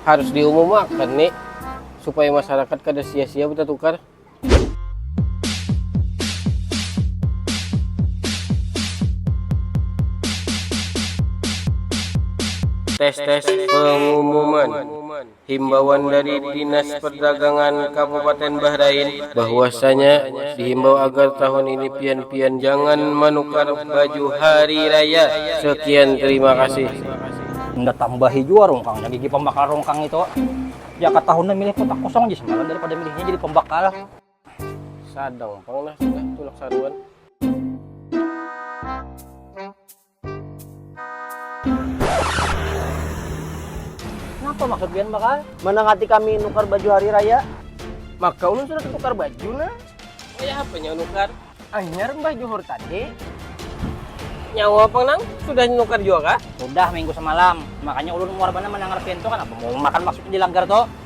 harus diumumakan nih supaya masyarakat kada sia-sia bertukar tes tes pengumuman Himbauan dari Dinas Perdagangan Kabupaten Bahrain. Bahwasanya dihimbau agar tahun ini pian-pian jangan manukar baju hari raya. Sekian terima kasih. Unda tambahi jua rungkangnya gigi pambakal rungkang itu. Ya katahuna milih kotak kosong aja semalam daripada milihnya jadi pembakal. Sadang pang nah sudah tulak saruan. Napa maksud pian bakal? Manangati kami nukar baju hari raya. Maka ulun sudah tatukar baju nah. Kaya apanya nukar? Anyar mbah Johor tadi. Nyawa pang nang? Sudah nukar jua kah? Sudah minggu semalam. Makanya ulun muar banar mandangar pian tu. Kanapa mau makan maksudnya di langgar tu?